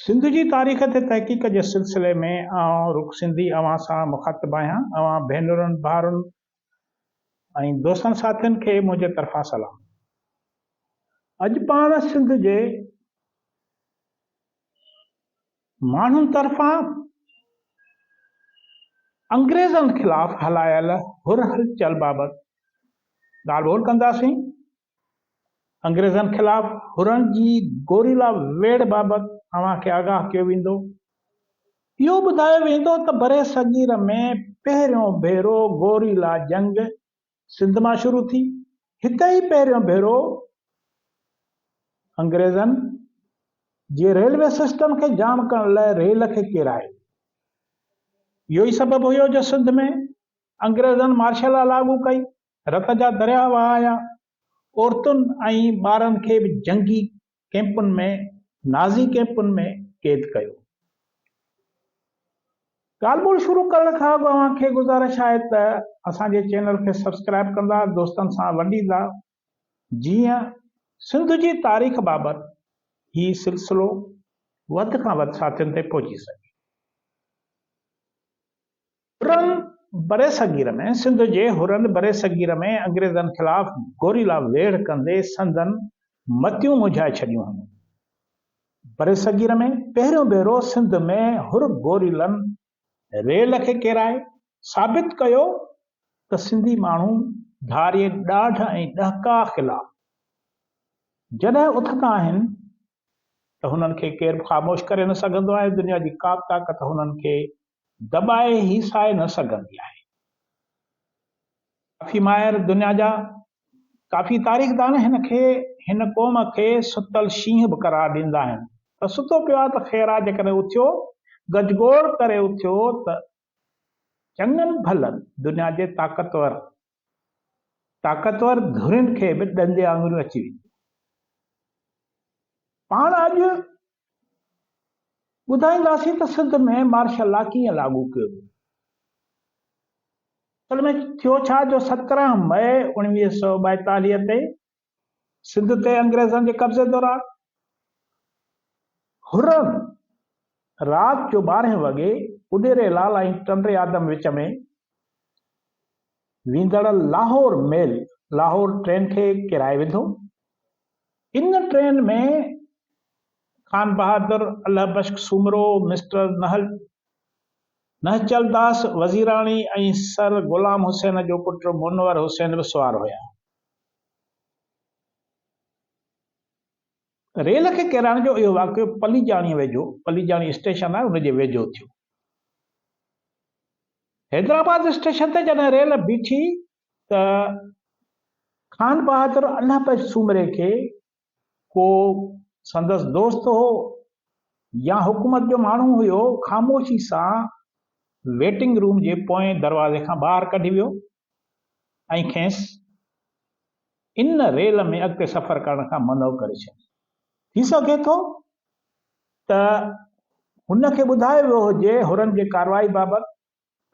سنڌ جي تاريخ تي تحقيق جي سلسلي ۾ آئون رڳ سنڌي اوهان سان مخاطب آهيان. اوهان ڀينرن، ڀائرن ۽ دوستن ساٿين کي منهنجي طرفان سلام. اڄ پاڻ سنڌ جي. ماڻهن طرفان انگريزن خلاف هلايل هر هلچل بابت ڳالهه ٻولهه ڪنداسين، انگريزن خلاف حرن جي گوريلا ويڙهه بابت اوهان کي آگاهه ڪيو ويندو. اهو ٻڌايو ويندو ته برصغير ۾ پهريون ڀيرو گوريلا جنگ سنڌ مان شروع ٿي. هتي ئي پهريون ڀيرو انگريزن جي ريلوي سسٽم کي جام ڪرڻ لاء ريل کي ڪيرايو. اهو ئي سبب هيو جو سنڌ ۾ انگريزن مارشل لا لاڳو ڪئي، رت جا درياهه وهايا، عورتن ۽ ٻارن کي به جنگي ڪيمپن ۾ نازي ڪيمپن ۾ قيد ڪيو ويو. ڳالهه ٻولهه شروع ڪرڻ کان اڳ اوهان کي گذارش آهي ته اسان جي چينل کي سبسڪرائيب ڪندا دوستن سان ونڊيندا جيئن سنڌ جي تاريخ بابت هي سلسلو وڌ کان وڌ ساٿين تائين پهچي سگهي. حرن برصغير ۾ سنڌ جي حرن برصغير ۾ انگريزن خلاف گوريلا ويڙهه ڪندي سندن متيون منجهائي ڇڏيون هيون. برصغير ۾ پهريون ڀيرو سنڌ ۾ حر گوريلن ريل کي ڪيرائي ثابت ڪيو ته سنڌي ماڻهو ڌاري ڏاڍ ۽ ڏهڪاء خلاف جڏهن اٿندا آهن ته هنن کي ڪير به خاموش ڪري نه سگهندو آهي، دنيا جي ڪابه طاقت هنن کي دٻائي هيسائي نه سگهندي آهي. ڪافي ماهر دنيا جا ڪافي تاريخ دان هن کي هن قوم کي ستل شينهن به قرار ڏيندا آهن ته ستو پيو آهي ته خير آهي جيڪڏهن اٿيو گجگوڙ ڪري اٿيو ته چڱن ڀلن دنيا جي طاقتور طاقتور ڌرين کي به ڏندي آڱريون اچي وينديون. پاڻ اڄ ٻڌائينداسين ته سنڌ ۾ مارشل لا ڪيئن لاڳو ڪيو ويو. اصل ۾ ٿيو ڇا جو سترهن مئي اوڻويهه سؤ ٻائيتاليهه تي سنڌ تي انگريزن جي قبضي دوران حرم رات جو ٻارهين وڳي اڏيري لال ۽ ٽنڊي آدم وچ ۾ ويندڙ لاهور ميل لاهور ٽرين کي ڪيرائي وڌو. ان train ۾ Khan Bahadur, Allah Bux Soomro, mister Nihchal Das Wazirani ۽ sir Ghulam Hussain جو پٽ منور حسين به سوار هيا. ريل کي ڪيرائڻ جو اهو واقعو پليجاڻيء ويجهو، پليجاڻي اسٽيشن آهي، ان جي ويجهو ٿيو. حيدرآباد اسٽيشن تي جڏهن ريل بيٺي ته خان بهادر الله بخش سومري کي ڪو سندس دوست هو يا حڪومت جو ماڻهو هيو، خاموشي سان ويٽنگ روم جي پوئين دروازي کان ٻاهر ڪڍي ويو ۽ کيس ان ريل ۾ اڳتي سفر ڪرڻ کان منع ڪري ڇڏي. ٿي سگهي ٿو ته هن کي ٻڌايو ويو هجي هرن جي ڪارروائي بابت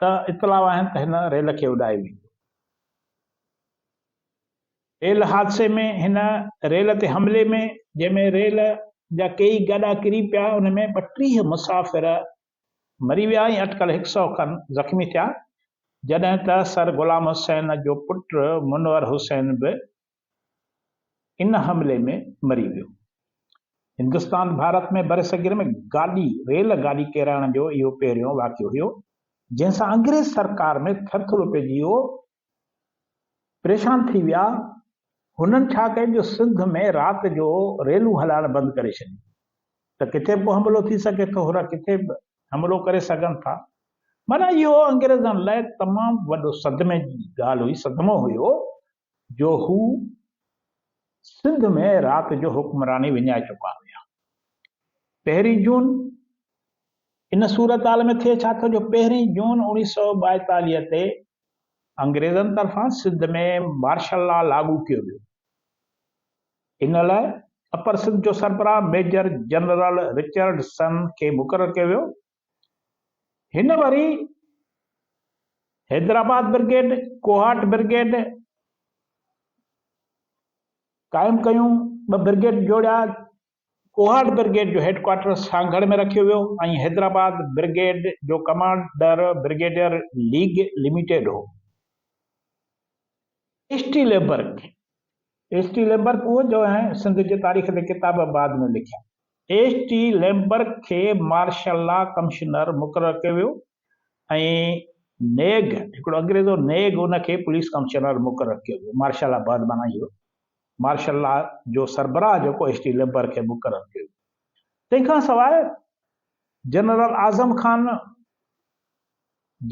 ته اطلاع آهن ته هن ريل کي اڏائي ويندو. ريل حادثي ۾ هن ريل تي حملي ۾ جنهن ۾ ريل جا ڪيئي گاڏا ڪري پيا ان ۾ ٻٽيهه مسافر مري ويا ۽ اٽڪل هڪ سئو کن زخمي ٿيا جڏهن ته سر غلام حسين جو پٽ منور حسين به ان حملي ۾ مري ويو. هندستان ڀارت ۾ برصغير ۾ گاڏي ريل گاڏي ڪيرائڻ جو اهو پهريون واقعو هيو جنهن سان انگريز سرڪار ۾ ٿر ٿرو پئجي ويو پريشان ٿي ويا هنن ڇا ڪيو جو سنڌ ۾ رات جو ريلون هلائڻ بند ڪري ڇڏيون ته ڪٿي به ڪو حملو ٿي سگهي ٿو هرا ڪٿي به حملو ڪري سگهن ٿا معنيٰ اهو انگريزن لاء تمام وڏو صدمي جي ڳالهه هئي صدمو هيو جو هو سنڌ ۾ رات جو حڪمراني وڃائي چڪا هيا. پهرين جون ان صورتحال ۾ ٿئي ڇا ٿو جو پهرين جون اوڻيهه سؤ ٻائيتاليهه تي انگريزن طرفان سنڌ ۾ مارشل لا لاڳو ڪيو ويو. ان لاء اپر سنڌ جو سربراهه ميجر جنرل رچرڊسن کي مقرر ڪيو ويو هن وري حيدرآباد برگيڊ، ڪوهاٽ برگيڊ قائم ڪيون، ٻه برگيڊ جوڙيا، ڪوهاٽ برگيڊ جو هيڊ ڪوارٽر سانگهڙ ۾ رکيو ويو ۽ حيدرآباد برگيڊ جو ڪمانڊر برگيڊيئر ليگ لميٽيڊ هو. اسٽيلبرگ ايڇ ٽي ليمبرڪ اهو جو ۽ سنڌ جي تاريخ تي ڪتاب بعد ۾ لکيا. ايڇ ٽي ليمبرڪ کي مارشل لا ڪمشنر مقرر ڪيو ويو ۽ نيگ، هڪڙو انگريز هو نيگ، ان کي پوليس ڪمشنر مقرر ڪيو ويو. مارشل لا بعد معنيٰ اهو مارشل لا جو سربراهه جيڪو ايڇ ٽي ليمبرڪ کي مقرر ڪيو ويو. تنهن کان سواء general Azam Khan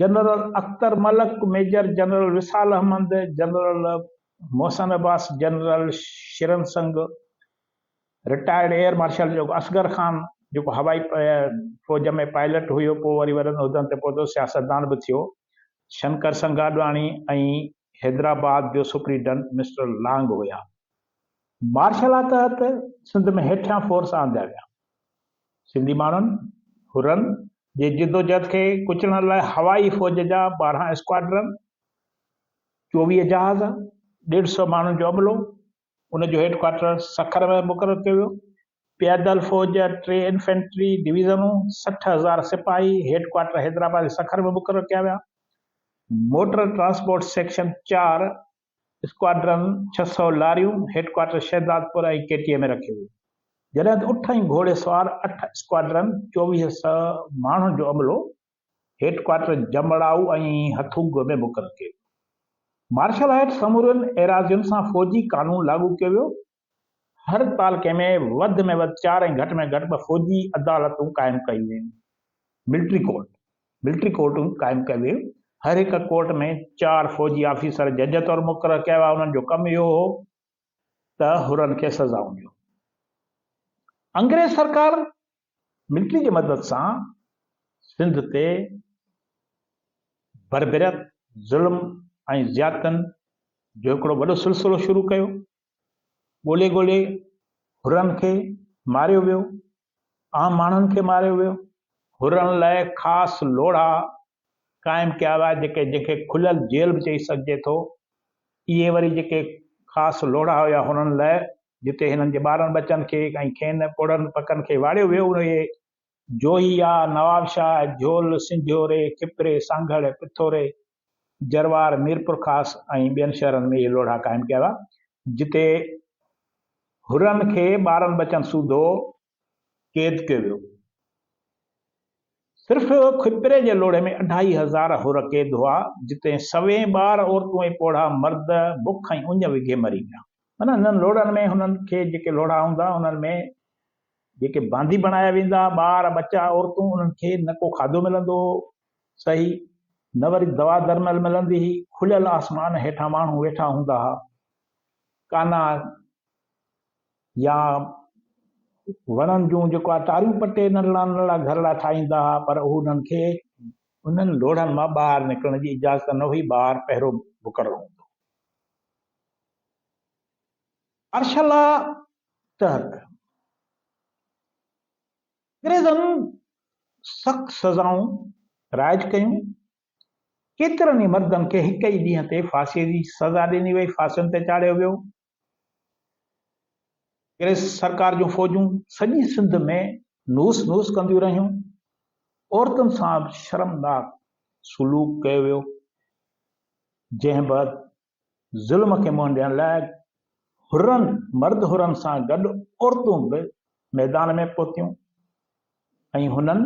general Akhtar Malik, major general Wisal Ahmed, general Mohsin Abbas, general Sharan Singh, retired air marshal جيڪو اصغر خان جيڪو هوائي فوج ۾ پائلٽ هيو پوء وري وڏن عهدن تي پهتو سياستدان به ٿيو، شنڪر سنگهه آڏواڻي ۽ حيدرآباد جو سپريڊنٽ مسٽر لانگ هيا. مارشل لا تحت سنڌ ۾ هيٺيان فورس آندا ويا. سنڌي ماڻهن، حرن، جي جدوجهد کي ڪچلڻ لاء هوائي فوج جا ٻارهن اسڪواڊرن، چوويهه جهاز، ڏيڍ سؤ ماڻهن جو عملو، ان جو هيڊ ڪوارٽر سکر ۾ مقرر ڪيو ويو. پيادل فوج جا ٽي انفينٽري ڊويزنون، سٺ هزار سپاهي هيڊ ڪوارٽر حيدرآباد ۽ سکر ۾ مقرر ڪيا ويا. موٽر ٽرانسپورٽ سيڪشن چار اسڪواڊرن ڇهه سؤ لاريون هيڊڪوارٽر شهدادپور ۽ ڪي ٽي اي ۾ رکيون ويون، جڏهن ته اٺ ۽ گهوڙي سوار اٺ اسڪواڊرن چوويهه سؤ ماڻهن جو عملو هيڊڪوارٽر جمڙائو ۽ هٿوڳو ۾ مقرر ڪيو ويو. مارشل هيٺ سمورين ايراضين سان فوجي قانون لاڳو ڪيو ويو هر تعلقي ۾ وڌ ۾ وڌ چار ۽ گهٽ ۾ گهٽ ٻه فوجي عدالتون قائم ڪيون ويون، ملٽري ڪورٽ، Military Court، قائم ڪيون ويون، هر هڪ ڪورٽ ۾ چار فوجي آفيسر جج طور مقرر ڪيا ويا، انهن جو ڪم اهو هو ته حرن کي سزائون ڏيو. انگريز سرڪار ملٽري جي مدد سان سنڌ تي بربريت، ظلم ۽ زيادتين جو هڪڙو وڏو سلسلو شروع ڪيو. ڳولي ڳولي حرن کي ماريو ويو. عام ماڻهن کي ماريو ويو. حرن لاء خاص لوڙها قائم ڪيا ويا جيڪي جنهن کي کليل جيل به چئي سگهجي ٿو. اهي وري جيڪي خاص لوڙها هيا حرن لاء جتي هنن جي ٻارن ٻچن کي ۽ کين پوڙهن پڪن کي واڙيو ويو اهي جوهيا، نوابشاهه، جهول، سنجهوري، کپري، سانگهڙ، پٿوري، جروار، ميرپورخاص ۽ ٻين شهرن ۾ اهي لوڙها قائم ڪيا ويا، جتي حرن کي ٻارن ٻچن سوڌو قيد ڪيو ويو. صرف کپري جي لوڙهي ۾ اڍائي هزار حر قيد هئا، جتي سوين ٻار، عورتون ۽ پوڙها مرد بک ۽ اڃ وگهي مري ويا. معنيٰ انهن لوڙهن ۾ هنن کي جيڪي لوڙها هوندا، انهن ۾ جيڪي باندي بڻايا ويندا ها، ٻار، ٻچا، عورتون، انهن کي نه ڪو کاڌو ملندو هو سهي، نه وري دوا درمل ملندي هئي، کليل آسمان هيٺان ماڻهو ويٺا هوندا ها، ڪانا يا وڻن جون جيڪا ٽاريون پٽي ننڍڙا ننڍڙا گهرڙا ٺاهيندا ها، پر اهو انهن کي انهن لوڙهن مان ٻاهر نڪرڻ جي اجازت نه هئي، ٻاهر پهرو مقرر هوندو هو. ارشلا ٽرڪ انگريزن سخت سزائون رائج ڪيون، ڪيترن ئي مردن کي هڪ ئي ڏينهن تي ڦاسيء جي سزا ڏني وئي، ڦاسين تي چاڙهيو ويو. انگريز سرڪار جون فوجون سڄي سنڌ ۾ نوس نوس ڪنديون رهيون، عورتن سان به شرمناڪ سلوڪ ڪيو ويو، جنهن بعد ظلم کي منهن ڏيڻ لاء حرن، مرد حرن سان گڏ عورتون به ميدان ۾ پهتيون ۽ هنن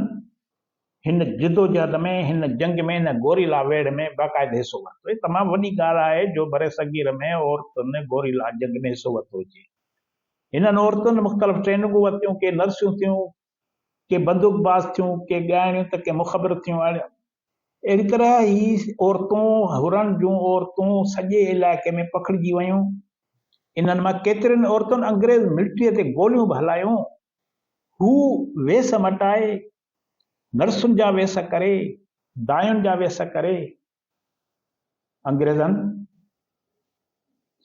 هن جدوجهد ۾، هن جنگ ۾، هن گوريلا ويڙهه ۾ باقاعده حصو ورتو. هي تمام وڏي ڳالهه آهي جو برصغير ۾ عورتن گوريلا جنگ ۾ حصو ورتو هجي. هنن عورتن مختلف ٽريننگون ورتيون، ڪي نرسيون ٿيون، ڪي بندوق باز ٿيون، ڪي ڳائڻيون ته ڪي مخبر ٿيون اڻ اهڙي طرح هي عورتون حرن جون عورتون سڄي علائقي ۾ پکڙجي ويون. انهن مان ڪيترين عورتن انگريز ملٽريء تي گوليون به هلايون. هو ويس مٽائي، نرسن جا ويس ڪري، داين جا ويس ڪري، انگريزن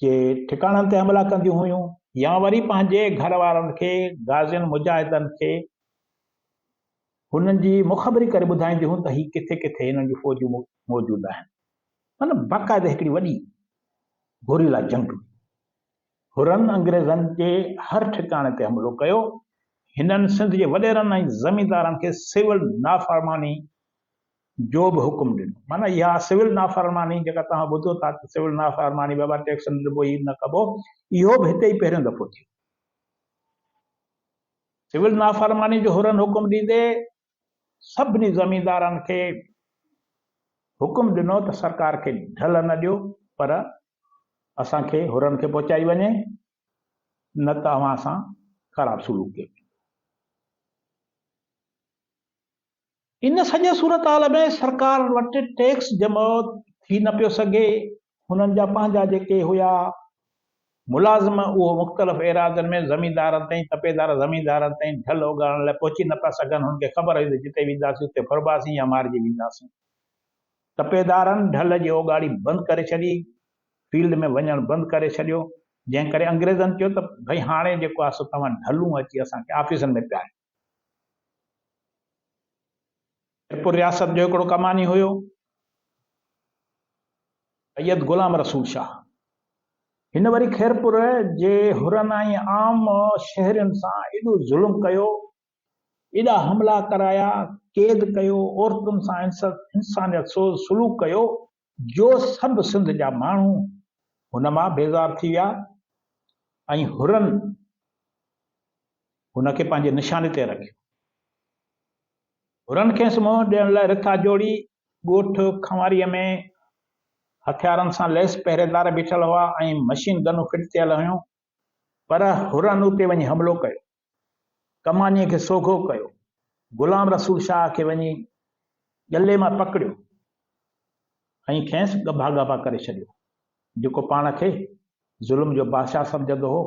جي ٺڪاڻن تي حملا ڪنديون هيون يا وري پنهنجي گهر وارن کي غازين مجاهدن کي هنن جي مخبري ڪري ٻڌائينديون هيون ته هي ڪٿي ڪٿي هنن جون فوجون موجود آهن مطلب باقاعده هڪڙي وڏي گوريلا جنگ هئي هرن انگريزن جي هر ٺڪاڻي تي حملو ڪيو هنن سنڌ جي وڏيرن ۽ زميندارن کي سول نافرماني جو به حڪم ڏنو. معنيٰ اها سول نافرماني جيڪا توهان ٻڌو ٿا ته سول نافرماني بابا ٽيڪس نه ڏبو هي نه ڪبو اهو به هتي ئي پهريون دفعو ٿيو. سول نافرماني جو حرن حڪم ڏيندي سڀني زميندارن کي حڪم ڏنو ته سرڪار کي ڍل نه ڏيو پر اسان کي حرن کي پهچائي وڃي نه ته اوهان سان خراب سلوڪ ڪيو ان سڄي صورتحال ۾ سرڪار وٽ ٽيڪس جمع ٿي نه پيو سگهي. هنن جا پنهنجا جيڪي هيا ملازم اهو مختلف ايراضين ۾ زميندارن تائين تپيدار زميندارن تائين ڍل اوڳاڙڻ لاء پهچي نه پيا سگهن. هنن کي خبر هئي ته جتي وينداسين اتي ڦرباسين يا مارجي وينداسين. تپيدارن ڍل جي اوڳاڙي بند ڪري ڇڏي، فيلڊ ۾ وڃڻ بند ڪري ڇڏيو، جنهن ڪري انگريزن چيو ته ڀئي هاڻي جيڪو آ سو توهان ڍلون اچي اسان کي آفيسن ۾ پياريو. جئپور رياست جو هڪڙو ڪماني هيو سيد غلام رسول شاهه. هن وري خيرپور جي حرن ۽ عام شهرين سان ايڏو ظلم ڪيو، ايڏا حملا ڪرايا، قيد ڪيو، عورتن سان انسانيت سوز سلوڪ ڪيو جو سڀ سنڌ جا ماڻهو هن مان بيزار ٿي ويا ۽ حرن هن کي پنهنجي نشاني تي رکيو. حرن کيس منهن ڏيڻ لاء رٿا جوڙي ڳوٺ کنواريء ۾ هٿيارن سان ليس پهريدار بيٺل هئا ۽ مشين گنون فٽ ٿيل هيون. پر حرن اتي وڃي حملو ڪيو، ڪمانيء کي سوگهو ڪيو، غلام رسول شاهه کي وڃي ڳلي مان پڪڙيو ۽ کيس ڳڀا ڳڀا ڪري ڇڏيو. جيڪو پاڻ کي ظلم جو بادشاهه سمجهندو هو،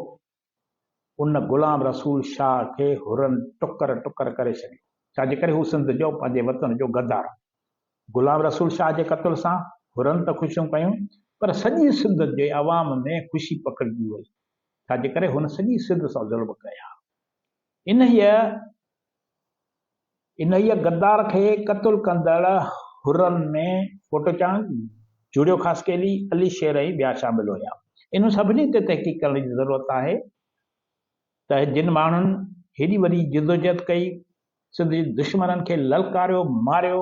ان غلام رسول شاهه کي حرن ٽڪر ٽڪر ڪري ڇڏيو، ڇا جي ڪري هو سنڌ جو، پنهنجي وطن جو غدار هو. غلام رسول شاهه جي قتل سان حرن ته خوشيون ڪيون پر سڄي سنڌ جي عوام ۾ خوشي پکڙجي وئي ڇاجي ڪري هن سڄي سنڌ سان ظلم ڪيا انهيء انهيء غدار کي قتل ڪندڙ حرن ۾ ڦوٽوچان، جوڙيو خاصخيلي، علي شير ۽ ٻيا شامل هيا. انهن سڀني تي تحقيق ڪرڻ جي ضرورت آهي ته جن ماڻهن هيڏي وڏي جدوجهد ڪئي سنڌ جي دشمنن کي للڪاريو ماريو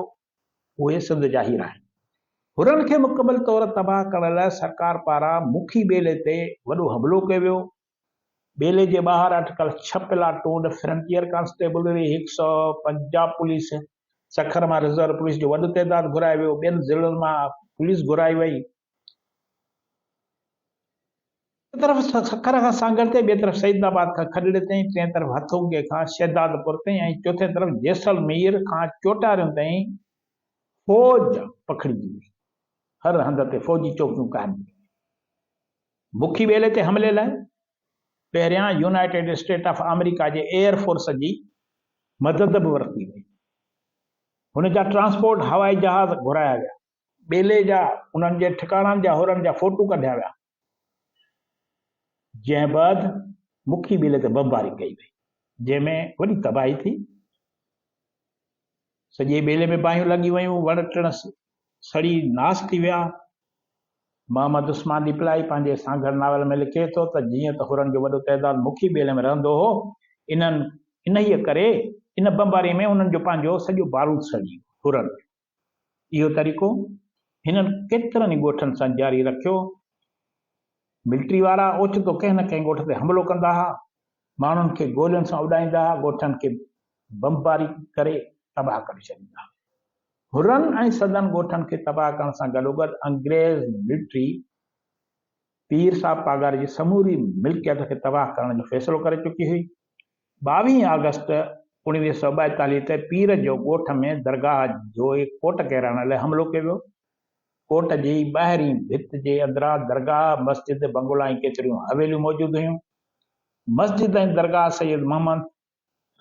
اهي سنڌ جا هيرا آهن هرن کي مڪمل طور تباهه ڪرڻ لاء سرڪار پاران مکي ٻيلي تي وڏو حملو ڪيو ويو ٻيلي جي ٻاهر اٽڪل ڇهه پلا ٽونڊ فرنٽيئر ڪانسٽيبلري هڪ سئو پنجاهه پوليس سکر مان رزرو پوليس جو وڏو تعداد گهرائي ويو ٻين ضلعن مان پوليس گهرائي وئي هڪ طرف سکر کان سانگهڙ تائين، ٻئي طرف سيد آباد کان کڏڙي تائين، ٽئين طرف هٿونگي کان شهدادپور تائين ۽ چوٿين طرف جيسلمير کان چوٽاريون تائين فوج پکڙجي وئي. هر هنڌ تي فوجي چوڪيون قائم ڪيون ويون. بکي ٻيلي تي حملي لاء پهريان يونائيٽيڊ اسٽيٽ آف آمريڪا جي ايئر فورس جي مدد به ورتي وئي. هن جا ٽرانسپورٽ هوائي جهاز گهرايا ويا. ٻيلي جا انهن جي ٺڪاڻن جا هورن جا فوٽو ڪڍيا ويا، جنهن بعد مکي ٻيلي تي بمباري ڪئي وئي، جنهن ۾ وڏي تباهي ٿي، سڄي ٻيلي ۾ باهيون لڳي ويون، وڻ ٽڻ سڙي ناس ٿي ويا. محمد عثمان ڏيپلائي پنهنجي سانگهڙ ناول ۾ لکي ٿو ته جيئن ته هورن جو وڏو تعداد مکي ٻيلي ۾ رهندو هو، انهن انهيء ڪري ان بمباري ۾ انهن جو پنهنجو سڄو بارود سڙي ويو، هورن جو اهو طريقو هنن ڪيترن ئي ڳوٺن سان جاري رکيو. ملٽري وارا اوچتو ڪنهن نه ڪنهن ڳوٺ تي حملو ڪندا ها، ماڻهن کي گولين سان اڏائيندا ها، ڳوٺن کي بمباري ڪري تباهه ڪري ڇڏيندا ها. حرن ۽ سندن ڳوٺن کي تباهه ڪرڻ سان گڏوگڏ انگريز ملٽري پير صاحب پاڳاري جي سموري ملڪيت کي تباهه ڪرڻ جو فيصلو ڪري چڪي هئي. ٻاويهين آگسٽ اوڻويهه سؤ ٻائيتاليهه تي پير جو ڳوٺ ۾ درگاهه جوء ڪوٽ ڪيرائڻ لاء حملو ڪيو ويو. ڪوٽ جي ٻاهرين ڀت جي اندران درگاهه، مسجد، بنگلا ۽ ڪيتريون حويليون موجود هيون. مسجد ۽ درگاهه سيد محمد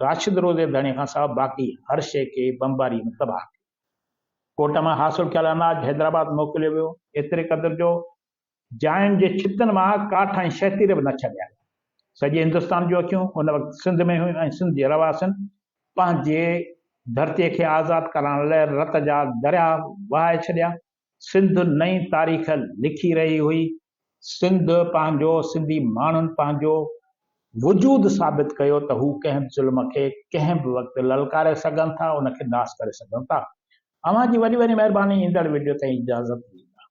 راشد روضي ڌڻي کان سواء باقي هر شيء کي بمباريء ۾ تباهه ڪيو. ڪوٽ مان حاصل ٿيل اناج حيدرآباد موڪليو ويو، ايتري قدر جو جاين جي ڇتن مان ڪاٺ ۽ شهتير به نه ڇڏيا. سڄي هندستان جون اکيون ان وقت سنڌ ۾ هيون ۽ سنڌ جي رهواسين پنهنجي ڌرتي کي آزاد ڪرائڻ لاء رت جا درياهه وهائي ڇڏيا. سنڌ نئين تاريخ لکي رهي هئي. سنڌ پنهنجو، سنڌي ماڻهن پنهنجو وجود ثابت ڪيو ته هو ڪنهن به ظلم کي ڪنهن به وقت للڪاري سگهن ٿا، ان کي ناس ڪري سگهن ٿا. اوهان جي وڏي وڏي مهرباني ايندڙ وڊيو تائين اجازت ڏيندا.